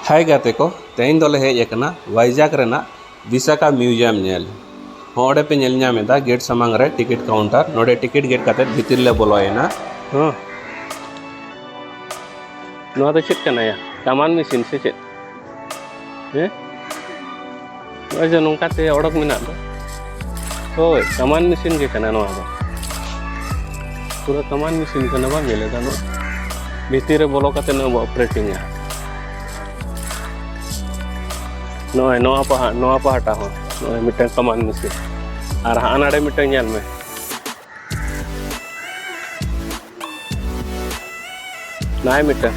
ᱦᱟᱭ ᱜᱟᱛᱮ ᱠᱚ ᱛᱮᱦᱮᱧ ᱫᱚᱞᱮ ᱦᱮᱡ ᱟᱠᱟᱱᱟ ᱵᱷᱟᱭᱡᱟᱜᱽ ᱨᱮᱱᱟᱜ ᱵᱤᱥᱟᱠᱟ ᱢᱤᱭᱩᱡᱤᱭᱟᱢ ᱧᱮᱞ ᱱᱚᱰᱮ ᱯᱮ ᱧᱮᱞ ᱧᱟᱢ ᱮᱫᱟ ᱜᱮᱴ ᱥᱟᱢᱟᱝ ᱨᱮ ᱴᱤᱠᱤᱴ ᱠᱟᱣᱩᱱᱴᱟᱨ ᱱᱚᱰᱮ ᱴᱤᱠᱤᱴ ᱜᱮᱴ ᱠᱟᱛᱮ ᱵᱷᱤᱛᱤᱨ ᱞᱮ ᱵᱚᱞᱚᱭᱮᱱᱟ ᱦᱮᱸ ᱱᱚᱣᱟ ᱫᱚ ᱪᱮᱫ ᱠᱟᱱᱟᱭᱟ ᱠᱟᱢᱟᱱ ᱢᱮᱥᱤᱱ ᱥᱮ ᱪᱮᱫ ᱦᱮᱸ ᱟᱪᱪᱷᱟ ᱱᱚᱝᱠᱟ ᱛᱮ ᱚᱰᱚᱠ ᱢᱮᱱᱟᱜ ᱫᱚ ᱦᱳᱭ ᱠᱟᱢᱟᱱ ᱢᱮᱥᱤᱱ ᱜᱮ ᱠᱟᱱᱟ ᱱᱚᱣᱟ ᱫᱚ ᱯᱩᱨᱟᱹ ᱠᱟᱢᱟᱱ ᱢᱮᱥᱤᱱ ᱠᱟᱱᱟ ᱵᱟᱢ ᱧᱮᱞᱮᱫᱟ ᱱᱚᱣᱟ ᱵᱷᱤᱛᱤᱨ ᱨᱮ ᱵᱚᱞᱚ ᱠᱟᱛᱮ ᱱᱚᱣᱟ ᱵᱚ ᱚᱯᱟᱨᱮᱴᱤᱝᱟ ᱱᱚᱜᱼᱚᱭ ᱱᱚᱣᱟ ᱯᱟᱦᱟ ᱱᱚᱣᱟ ᱯᱟᱦᱴᱟ ᱦᱚᱸ ᱱᱚᱜᱼᱚᱭ ᱢᱤᱫᱴᱟᱝ ᱠᱟᱢᱟᱱ ᱢᱮᱥᱤᱱ ᱟᱨ ᱦᱟᱸᱜ ᱱᱟᱰᱮ ᱢᱤᱫᱴᱟᱝ ᱧᱮᱞ ᱢᱮ ᱱᱟᱭ ᱢᱤᱫᱴᱟᱝ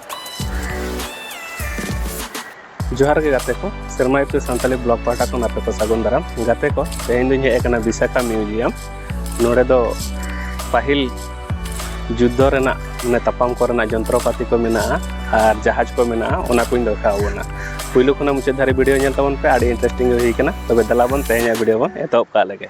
ᱡᱚᱦᱟᱨ ᱜᱮ ᱜᱟᱛᱮ ᱠᱚ ᱥᱮᱨᱢᱟ ᱤᱯᱤᱞ ᱥᱟᱱᱛᱟᱞᱤ ᱵᱞᱚᱜ ᱯᱟᱦᱴᱟ ᱠᱷᱚᱱ ᱟᱯᱮ ᱠᱚ ᱥᱟᱹᱜᱩᱱ ᱫᱟᱨᱟᱢ ᱜᱟᱛᱮ ᱠᱚ ᱛᱮᱦᱮᱧ ᱫᱚᱧ ᱦᱮᱡ ᱟᱠᱟᱱᱟ ᱵᱤᱥᱟᱠᱷᱟ ᱢᱤᱭᱩᱡᱤᱭᱟᱢ ᱱᱚᱰᱮ ᱫᱚ ᱯᱟᱹᱦᱤᱞ ᱡᱩᱫᱽᱫᱷᱚ ᱨᱮᱱᱟᱜ ᱢᱟᱱᱮ ᱛᱟᱯᱟᱢ ᱠᱚᱨᱮᱱᱟᱜ ᱡᱚᱱᱛᱨᱚᱯᱟᱹᱛᱤ ᱠᱚ ᱢᱮᱱᱟᱜᱼᱟ ᱟᱨ ᱡᱟᱦᱟᱡᱽ ᱠᱚ ᱢᱮᱱᱟᱜᱼᱟ ᱚᱱᱟ ᱠᱚᱧ ᱫᱮᱠᱷᱟᱣ ᱵᱚᱱᱟ ᱯᱩᱭᱞᱩ ᱠᱷᱚᱱᱟᱜ ᱢᱩᱪᱟᱹᱫ ᱫᱷᱟᱹᱨᱤᱡ ᱵᱷᱤᱰᱤᱭᱳ ᱧᱮᱞ ᱛᱟᱵᱚᱱ ᱯᱮ ᱟᱹᱰᱤ ᱤᱱᱴᱟᱨᱮᱥᱴᱤᱝ ᱜᱮ ᱦᱩᱭ ᱠᱟᱱᱟ ᱛᱚᱵᱮ ᱫᱮᱞᱟ ᱵᱚᱱ ᱛᱮᱦᱮᱧᱟᱜ ᱵᱷᱤᱰᱤᱭᱳ ᱵᱚᱱ ᱮᱛᱚᱦᱚᱵ ᱠᱟᱜ ᱞᱮᱜᱮ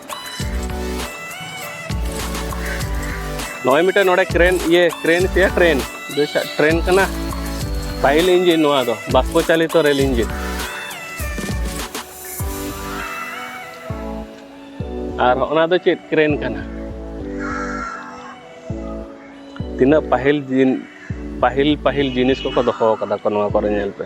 ᱱᱚᱜᱼᱚᱭ ᱢᱤᱫᱴᱮᱱ ᱱᱚᱰᱮ ᱠᱨᱮᱱ ᱤᱭᱟᱹ ᱠᱨᱮᱱ ᱥᱮ ᱴᱨᱮᱱ ᱴᱨᱮᱱ ᱠᱟᱱᱟ ᱯᱟᱹᱦᱤᱞ ᱤᱧᱡᱤᱱ ᱱᱚᱣᱟ ᱫᱚ ᱵᱟᱥᱯᱚ ᱪᱟᱞᱤᱛᱚ ᱨᱮᱞ ᱤᱧᱡᱤᱱ ᱟᱨ ᱚᱱᱟ ᱫᱚ ᱪᱮᱫ ᱠᱨᱮᱱ ᱠᱟᱱᱟ ᱛᱤᱱᱟᱹᱜ ᱯᱟᱹᱦᱤᱞ ᱫᱤᱱ ᱯᱟᱹᱦᱤᱞ ᱯᱟᱹᱦᱤᱞ ᱡᱤᱱᱤᱥ ᱠᱚᱠᱚ ᱫᱚᱦᱚ ᱠᱟᱫᱟ ᱠᱚ ᱱᱚᱣᱟ ᱠᱚᱨᱮ ᱧᱮᱞ ᱯᱮ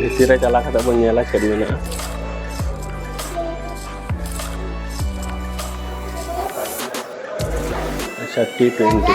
ᱵᱷᱤᱛᱤᱨ ᱨᱮ ᱪᱟᱞᱟᱣ ᱠᱟᱛᱮ ᱵᱚᱱ ᱧᱮᱞᱟ ᱪᱮᱫ ᱢᱮᱱᱟᱜᱼᱟ ᱟᱪᱪᱷᱟ ᱴᱤ ᱴᱩᱭᱮᱱᱴᱤ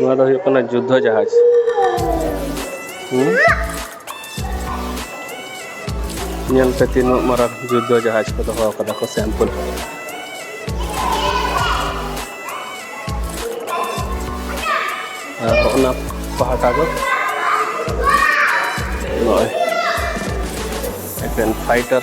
ᱱᱚᱣᱟ ᱫᱚ ᱦᱩᱭᱩᱜ ᱠᱟᱱᱟ ᱡᱩᱫᱽᱫᱷᱚ ᱡᱟᱦᱟᱡᱽ ᱧᱮᱞ ᱯᱮ ᱛᱤᱱᱟᱹᱜ ᱢᱟᱨᱟᱝ ᱡᱩᱫᱽᱫᱷᱚ ᱡᱟᱦᱟᱡᱽ ᱠᱚ ᱫᱚᱦᱚ ᱟᱠᱟᱫᱟ ᱠᱚ ᱥᱮᱢᱯᱩᱞ ᱟᱨ ᱚᱱᱟ ᱯᱟᱦᱴᱟ ᱫᱚ ᱱᱚᱜᱼᱚᱭ ᱮᱠᱮᱱ ᱯᱷᱟᱭᱴᱟᱨ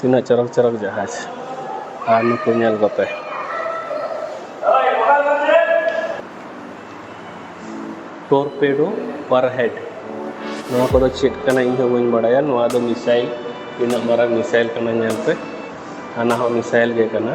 ᱛᱤᱱᱟᱹᱜ ᱪᱚᱨᱚᱠ ᱪᱚᱨᱚᱠ ᱡᱟᱦᱟᱡᱽ ᱟᱨ ᱱᱩᱠᱩ ᱧᱮᱞ ᱠᱚᱯᱮ ᱴᱳᱨᱯᱮᱰᱳ ᱯᱟᱨᱦᱮᱰ ᱱᱚᱣᱟ ᱠᱚᱫᱚ ᱪᱮᱫ ᱠᱟᱱᱟ ᱤᱧ ᱦᱚᱸ ᱵᱟᱹᱧ ᱵᱟᱲᱟᱭᱟ ᱱᱚᱣᱟ ᱫᱚ ᱢᱤᱥᱟᱭᱤᱞ ᱛᱤᱱᱟᱹᱜ ᱢᱟᱨᱟᱝ ᱢᱤᱥᱟᱭᱤᱞ ᱠᱟᱱᱟ ᱧᱮᱞ ᱯᱮ ᱦᱟᱱᱟ ᱦᱚᱸ ᱢᱤᱥᱟᱭᱤᱞ ᱜᱮ ᱠᱟᱱᱟ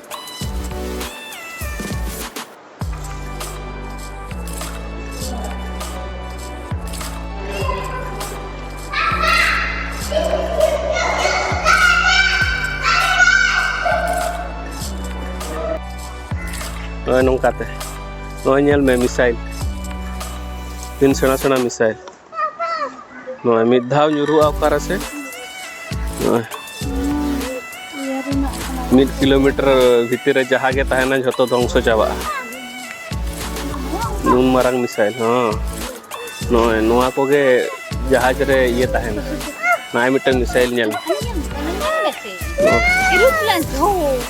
ᱱᱚᱜᱼᱚᱭ ᱱᱚᱝᱠᱟᱛᱮ ᱱᱚᱜᱼᱚᱭ ᱧᱮᱞ ᱢᱮ ᱢᱤᱥᱟᱭᱤᱞ ᱛᱤᱱ ᱥᱮᱬᱟ ᱥᱮᱬᱟ ᱢᱤᱥᱟᱭᱤᱞ ᱱᱚᱜᱼᱚᱭ ᱢᱤᱫ ᱫᱷᱟᱣ ᱧᱩᱨᱩᱜᱼᱟ ᱚᱠᱟᱨᱮ ᱥᱮ ᱱᱚᱜᱼᱚᱭ ᱢᱤᱫ ᱠᱤᱞᱳᱢᱤᱴᱟᱨ ᱵᱷᱤᱛᱤᱨ ᱨᱮ ᱡᱟᱦᱟᱸ ᱜᱮ ᱛᱟᱦᱮᱱᱟ ᱡᱷᱚᱛᱚ ᱫᱷᱚᱝᱥᱚ ᱪᱟᱵᱟᱜᱼᱟ ᱱᱩᱱ ᱢᱟᱨᱟᱝ ᱢᱤᱥᱟᱭᱤᱞ ᱦᱚᱸ ᱱᱚᱜᱼᱚᱭ ᱱᱚᱣᱟ ᱠᱚᱜᱮ ᱡᱟᱦᱟᱡᱽ ᱨᱮ ᱤᱭᱟᱹ ᱛᱟᱦᱮᱱᱟ ᱱᱚᱜᱼᱚᱭ ᱢᱤᱫᱴᱟᱝ ᱢᱤᱥᱟᱭᱤᱞ ᱧᱮᱞ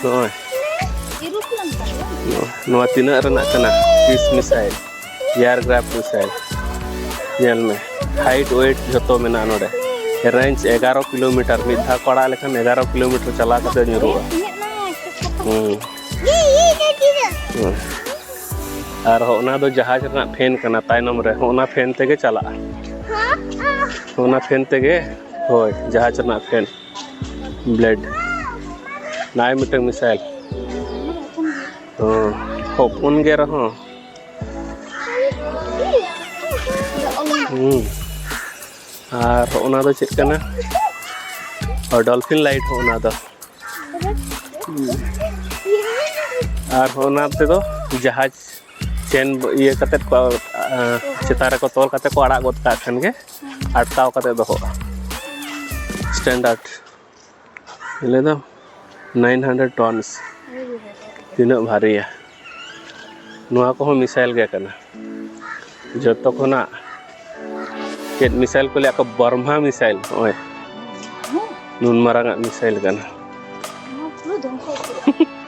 ᱱᱚᱜᱼᱚᱭ ᱱᱚᱣᱟ ᱛᱤᱱᱟᱹᱜ ᱨᱮᱱᱟᱜ ᱠᱟᱱᱟ ᱛᱤᱥ ᱢᱤᱥᱟᱭᱤᱞ ᱮᱭᱟᱨᱠᱨᱟᱯᱷᱴ ᱢᱤᱥᱟᱭᱤᱞ ᱧᱮᱞ ᱢᱮ ᱦᱟᱭᱤᱴ ᱣᱮᱴ ᱡᱷᱚᱛᱚ ᱢᱮᱱᱟᱜᱼᱟ ᱱᱚᱰᱮ ᱨᱮᱧᱡᱽ ᱮᱜᱟᱨᱚ ᱠᱤᱞᱳᱢᱤᱴᱟᱨ ᱢᱤᱫ ᱫᱷᱟᱣ ᱠᱚ ᱟᱲᱟᱜ ᱞᱮᱠᱷᱟᱱ ᱮᱜᱟᱨᱚ ᱠᱤᱞᱳᱢᱤᱴᱟᱨ ᱪᱟᱞᱟᱣ ᱠᱟᱛᱮ ᱧᱩᱨᱩᱜᱼᱟ ᱟᱨ ᱚᱱᱟ ᱫᱚ ᱡᱟᱦᱟᱡᱽ ᱨᱮᱱᱟᱜ ᱯᱷᱮᱱ ᱠᱟᱱᱟ ᱛᱟᱭᱱᱚᱢ ᱨᱮ ᱚᱱᱟ ᱯᱷᱮᱱ ᱛᱮᱜᱮ ᱪᱟᱞᱟᱜᱼᱟ ᱚᱱᱟ ᱯᱷᱮᱱ ᱛᱮᱜᱮ ᱦᱳᱭ ᱡᱟᱦᱟᱡᱽ ᱨᱮᱱᱟᱜ ᱯᱷᱮᱱ ᱵᱞᱮᱰ ᱱᱟᱭ ᱢᱤᱫᱴᱟᱝ ᱢᱤᱥᱟᱭᱤᱞ ᱦᱚᱯᱚᱱ ᱜᱮ ᱨᱮᱦᱚᱸ ᱟᱨ ᱚᱱᱟ ᱫᱚ ᱪᱮᱫ ᱠᱟᱱᱟ ᱰᱚᱞᱯᱷᱤᱱ ᱞᱟᱭᱤᱴ ᱦᱚᱸ ᱚᱱᱟ ᱫᱚ ᱟᱨ ᱚᱱᱟ ᱛᱮᱫᱚ ᱡᱟᱦᱟᱡᱽ ᱪᱮᱱ ᱤᱭᱟᱹ ᱠᱟᱛᱮᱫ ᱠᱚ ᱪᱮᱛᱟᱱ ᱨᱮᱠᱚ ᱛᱚᱞ ᱠᱟᱛᱮᱫ ᱠᱚ ᱟᱲᱟᱜ ᱜᱚᱫ ᱠᱟᱜ ᱠᱷᱟᱱ ᱜᱮ ᱟᱴᱠᱟᱣ ᱠᱟᱛᱮᱫ ᱫᱚᱦᱚᱜᱼᱟ ᱥᱴᱮᱱᱰᱟᱨᱰ ᱞᱟᱹᱭ ᱫᱟᱢ ᱱᱟᱭᱤᱱ ᱦᱟᱱᱰᱨᱮᱰ ᱴᱚᱱᱥ ᱛᱤᱱᱟᱹᱜ ᱵᱷᱟᱨᱤᱭᱟ ᱱᱚᱣᱟ ᱠᱚᱦᱚᱸ ᱢᱤᱥᱟᱭᱤᱞ ᱜᱮ ᱠᱟᱱᱟ ᱡᱚᱛᱚ ᱠᱷᱚᱱᱟᱜ ᱪᱮᱫ ᱢᱤᱥᱟᱭᱤᱞ ᱠᱚ ᱞᱟᱹᱭᱟ ᱠᱚ ᱵᱨᱢᱦᱟ ᱢᱤᱥᱟᱭᱤᱞ ᱱᱚᱜᱼᱚᱭ ᱱᱩᱱ ᱢᱟᱨᱟᱝ ᱟᱜ ᱢᱤᱥᱟᱭᱤᱞ ᱠᱟᱱᱟ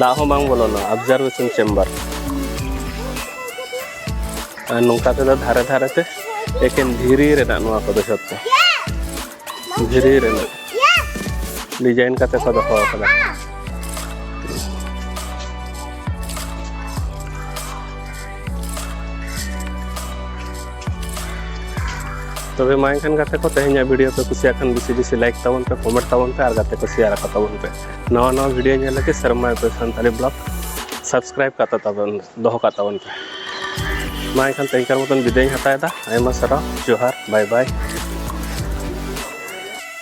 ᱫᱟᱜ ᱦᱚᱸ ᱵᱟᱝ ᱵᱚᱞᱚᱱᱟ ᱚᱵᱡᱟᱨᱵᱷᱮᱥᱚᱱ ᱪᱮᱢᱵᱟᱨ ᱟᱨ ᱱᱚᱝᱠᱟ ᱛᱮᱫᱚ ᱫᱷᱟᱨᱮ ᱫᱷᱟᱨᱮ ᱛᱮ ᱮᱠᱮᱱ ᱫᱷᱤᱨᱤ ᱨᱮᱱᱟᱜ ᱱᱚᱣᱟ ᱠᱚᱫᱚ ᱡᱷᱚᱛᱚ ᱫᱷᱤᱨᱤ ᱨᱮᱱᱟᱜ ᱰᱤᱡᱟᱭᱤᱱ ᱠᱟᱛᱮ ᱠᱚ ᱫᱚᱦᱚ ᱟᱠᱟᱫᱟ ᱛᱚᱵᱮ ᱢᱟ ᱮᱱᱠᱷᱟᱱ ᱜᱟᱛᱮ ᱠᱚ ᱛᱮᱦᱮᱧᱟᱜ ᱵᱷᱤᱰᱤᱭᱳ ᱯᱮ ᱠᱩᱥᱤᱭᱟᱜ ᱠᱷᱟᱱ ᱵᱮᱥᱤ ᱵᱮᱥᱤ ᱞᱟᱭᱤᱠ ᱛᱟᱵᱚᱱ ᱯᱮ ᱠᱚᱢᱮᱱᱴ ᱛᱟᱵᱚᱱ ᱯᱮ ᱟᱨ ᱜᱟᱛᱮ ᱠᱚ ᱥᱮᱭᱟᱨ ᱟᱠᱚ ᱛᱟᱵᱚᱱ ᱯᱮ ᱱᱟᱣᱟ ᱱᱟᱣᱟ ᱵᱷᱤᱰᱤᱭᱳ ᱧᱮᱞ ᱞᱟᱹᱜᱤᱫ ᱥᱮᱨᱢᱟ ᱠᱚ ᱥᱟᱱᱛᱟᱲᱤ ᱵᱞᱚᱜ ᱥᱟᱵᱥᱠᱨᱟᱭᱤᱵ ᱠᱟᱛᱟ ᱛᱟᱵᱚᱱ ᱫᱚᱦᱚ ᱠᱟᱜ ᱛᱟᱵᱚᱱ ᱯᱮ ᱢᱟ ᱮᱱᱠᱷᱟᱱ ᱛᱮᱦᱮᱧᱠᱟᱨ ᱢᱚᱛᱚᱱ ᱵᱤᱫᱟᱹᱭᱤᱧ ᱦᱟᱛᱟᱣᱮᱫᱟ ᱟᱭᱢᱟ ᱥᱟᱨᱦᱟᱣ ᱡᱚᱦᱟᱨ ᱵᱟᱭ ᱵᱟᱭ